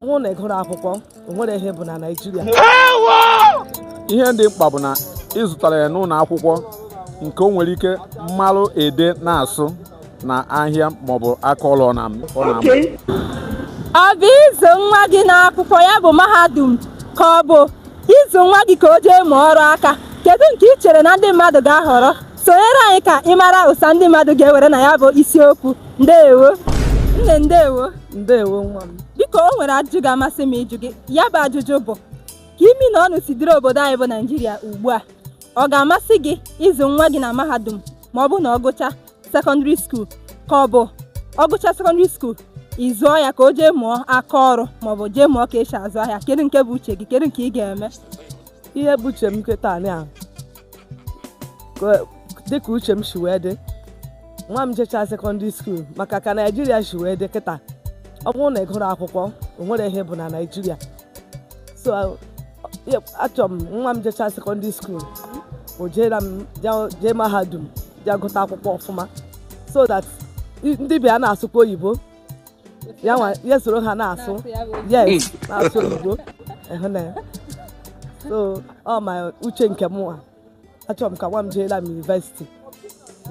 bụ na ị gụrụ akwụkwọ o nwere ihe ị bụ na naijiria ihe dị mkpa bụ na ị zụtara ya n'ụlọ akwụkwọ nke o nwere ike malụ ede na asụ na ahịa maọbụ aka ọrụ ọ na-amụ ọ na-amụ. ọ bụ ịzụ nwa gị n'akwụkwọ ya bụ mahadum ka ọ bụ ịzụ nwa gị ka o jee mụọ ọrụ aka kedu nke ị chere na ndị mmadụ ga-ahọrọ sonyere anyị ka ị mara ụsa ndị mmadụ ga-ewere na ya bụ isiokwu ndewo nne ndewo ndewo nwa m biko o nwere ajụjụ ga-amasị m ịjụ gị ya bụ ajụjụ bụ ka imi na ọnụ si dịrị obodo anyị bụ naijiria ugbu a ọ ga-amasị gị ịzụ nwa gị na mahadum ma ọ bụ na ọ gụcha sekọndịrị skuul ka ọ bụ ọ gụcha sekọndịrị skuul ị zụọ ya ka o jee mụọ aka ọrụ ma ọ bụ jee mụọ ka e si azụ ahịa kedu nke bụ uche gị kedu nke ị ga-eme ihe bụ uche m kịta a dịka uche m si wee dị nwa m jechaa sekọndịrị skuul maka ka naijiria si wee dị kịta ọ bụrụ na ị gụrụ akwụkwọ o nwere ihe ị bụ na naijiria so achọrọ m nwa m jechaa sekọndịrị skuul o jeela m jee mahadum jee gụta akwụkwọ ọfụma so that ndị ibe ya na-asụkwa oyibo ya nwa ya soro ha na-asụ yes na-asụ oyibo ịhụ na ya so ọ ma uche nke mụwa achọrọ m ka nwa m jeela m yunivesiti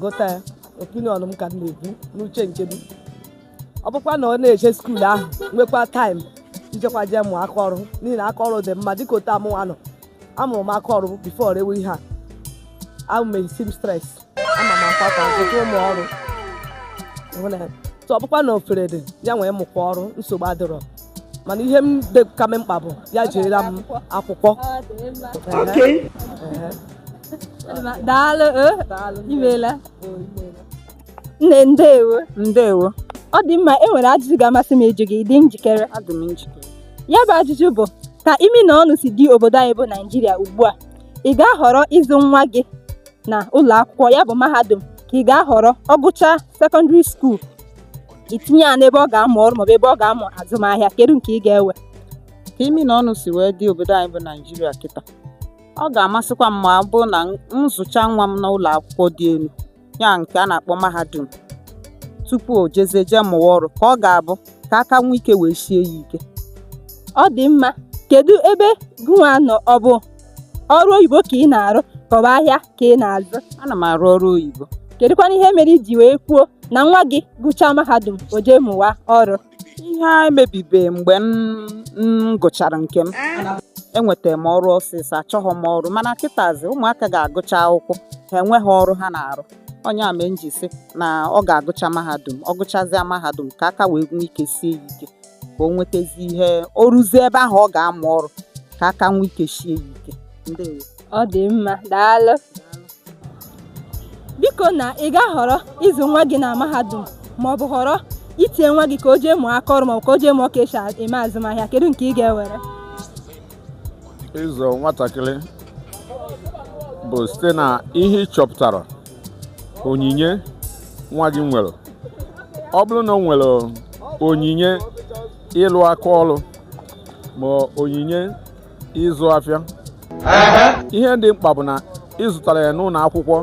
gụta ya opinion m ka m na-ebu n'uche nke m ọ bụkwa na ọ na-eje skuul ahụ nwekwa taịm ijekwa jee mụọ aka ọrụ n'ihi na aka ọrụ dị mma dịka otu amụwa nọ amụrụ m aka ọrụ bifo rewe ihe a i am a seamstress ama m akwata ọtụtụ ụmụ ọrụ tụ ọ bụkwa na ofere dị ya wee mụkwa ọrụ nsogbu adịrọ mana ihe m dịka m mkpa bụ ya jeela m akwụkwọ daalụ eh? imeela nne ndewo ndewo ọ dị mma e nwere ajụjụ ga-amasị m ịjụ gị dị njikere adị m njikere ya bụ ajụjụ bụ ka imi na ọnụ si dị obodo anyị bụ naijiria ugbu a ị ga-ahọrọ ịzụ nwa gị na ụlọ akwụkwọ ya bụ mahadum ka ị ga-ahọrọ ọ gụchaa sekọndịrị skuul itinye ya n'ebe ọ ga-amụ ọrụ maọbụ ebe ọ ga-amụ azụmahịa kedu nke ị ga-ewe ka imi na ọnụ si wee dị obodo anyị bụ naijiria kịta ọ ga-amasịkwa m ma ọ bụrụ na m zụcha nwa m n'ụlọ akwụkwọ dị elu ya nke a na-akpọ mahadum tupu o jezie jee mụwa ọrụ ka ọ ga-abụ ka aka nwee ike wee sie ya ike ọ dị mma kedu ebe gụnwa nọ ọ bụ ọrụ oyibo ka ị na-arụ ka ọ bụ ahịa ka ị na-azụ ana m arụ ọrụ oyibo kedụkwanụ ihe mere i ji wee kwuo na nwa gị gụchaa mahadum o jee mụwa ọrụ ihe a mebibe mgbe m m gụchara nke m enwetara m ọrụ ọsịsọ achọghị m ọrụ mana kịtazi ụmụaka ga-agụcha akwụkwọ ha enweghị ọrụ ha na-arụ ọ ya mere m ji sị na ọ ga-agụcha mahadum ọ gụchazịa mahadum ka aka wee nwee ike sie ya ike ka o nwetazi ihe o ruzie ebe ahụ ọ ga-amụ ọrụ ka aka nwee ike shie ya ike ndewo ọ dị mma daalụ biko na ị ga-ahọrọ ịzụ nwa gị na mahadum ma ọ bụ họrọ itinye nwa gị ka o jee mụọ aka ọrụ ma ọ bụ ka o jee mụọ ka esi eme azụmahịa kedu nke ị ga-ewere ịzụ nwatakịrị bụ site na ihe ị chọpụtara onyinye nwa gị nwere ọ bụrụ na ọ nwere onyinye ịlụ aka ọrụ ma ọ onyinye ịzụ afịa ihe dị mkpa bụ na ịzụtara ya n'ụlọ akwụkwọ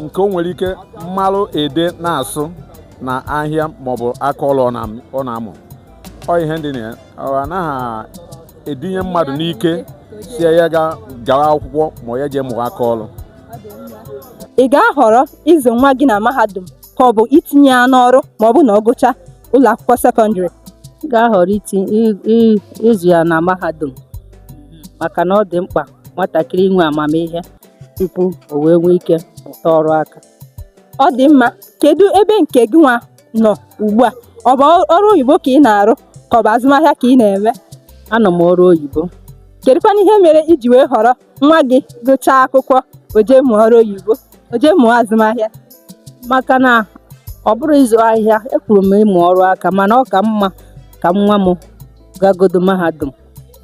nke o nwere ike ịmalụ ede na-asụ na ahịa maọbụ aka ọrụ ọ na-amụ ọ ihe dị na ya anaghị etinye mmadụ n'ike sị ya ga gawa akwụkwọ ma ọ ya jee mụwa aka ọrụ ị ga-ahọrọ ịzụ nwa gị na mahadum ka ọ bụ itinye ya n'ọrụ ma ọ bụ na ọ gụcha ụlọ akwụkwọ sekọndịrị m ga-ahọrọ iti i- i- ịzụ ya na mahadum maka na ọ dị mkpa nwatakịrị inwe amamihe tupu o wee nwee ike mụta ọrụ aka ọ dị mma kedu ebe nke gị nwa nọ ugbu a ọ bụ ọrụ oyibo ka ị na-arụ ka ọ bụ azụmahịa ka ị na-eme anọ m ọrụ oyibo kedụkwana ihe mere iji wee họrọ nwa gị gụchaa akwụkwọ o jee mụọ ọrụ oyibo o jee mụọ azụmahịa maka na ọ bụrọ ịzụ ahịa ekwuru m ịmụ ọrụ aka mana ọ ka mma ka nwa m gagodo mahadum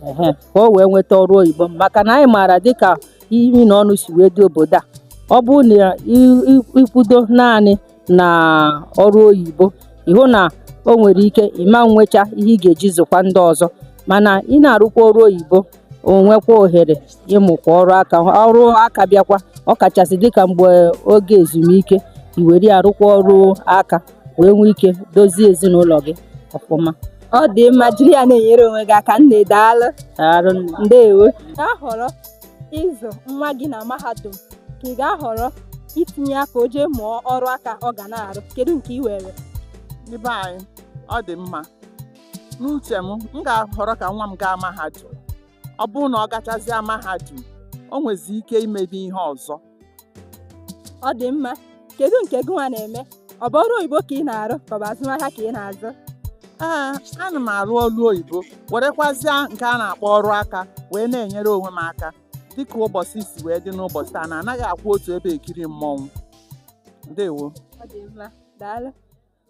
ehe ka o wee nweta ọrụ oyibo maka na anyị maara dịka imi na ọnụ si wee dị obodo a ọ bụrụ na ị- ị- ịkwụdo naanị na ọrụ oyibo ịhụ na o nwere ike ị ma nwecha ihe ị ga-eji zụkwa ndị ọzọ mana ị na-arụkwa ọrụ oyibo o nwekwa ohere ịmụkwa ọrụ aka ọrụ aka bịakwa ọ kachasị dịka mgbe oge ezumike i were arụkwa ọrụ aka wee nwee ike dozie ezinụlọ gị ọfụma ọ dị mma jiri ya na-enyere onwe gị aka nne daalụ ndewo ahọrọ ịzụ nwa gị na mahadum ka ị ga-ahọrọ itinye ya ka o jee mụọ ọrụ aka ọ ga na-arụ kedu nke ị were ndị be anyị ọ dị mma n'uche m m ga-ahọrọ ka nwa m gaa mahadum ọ bụrụ na ọ gachazịa mahadum o nwezi ike imezi ihe ọzọ ọ dị mma kedu nke gị nwa na-eme ọ bụ ọrụ oyibo ka ị na-arụ ka ọ bụ azụmahịa ka ị na-azụ ee ana m arụ ọrụ oyibo werekwazịa nke a na-akpọ ọrụ aka wee na-enyere onwe m aka dịka ụbọsị si wee dị n'ụbọsị taa na anaghị akwụ otu ebe ekiri mmọnwụ ndewo ọ dị mma daalụ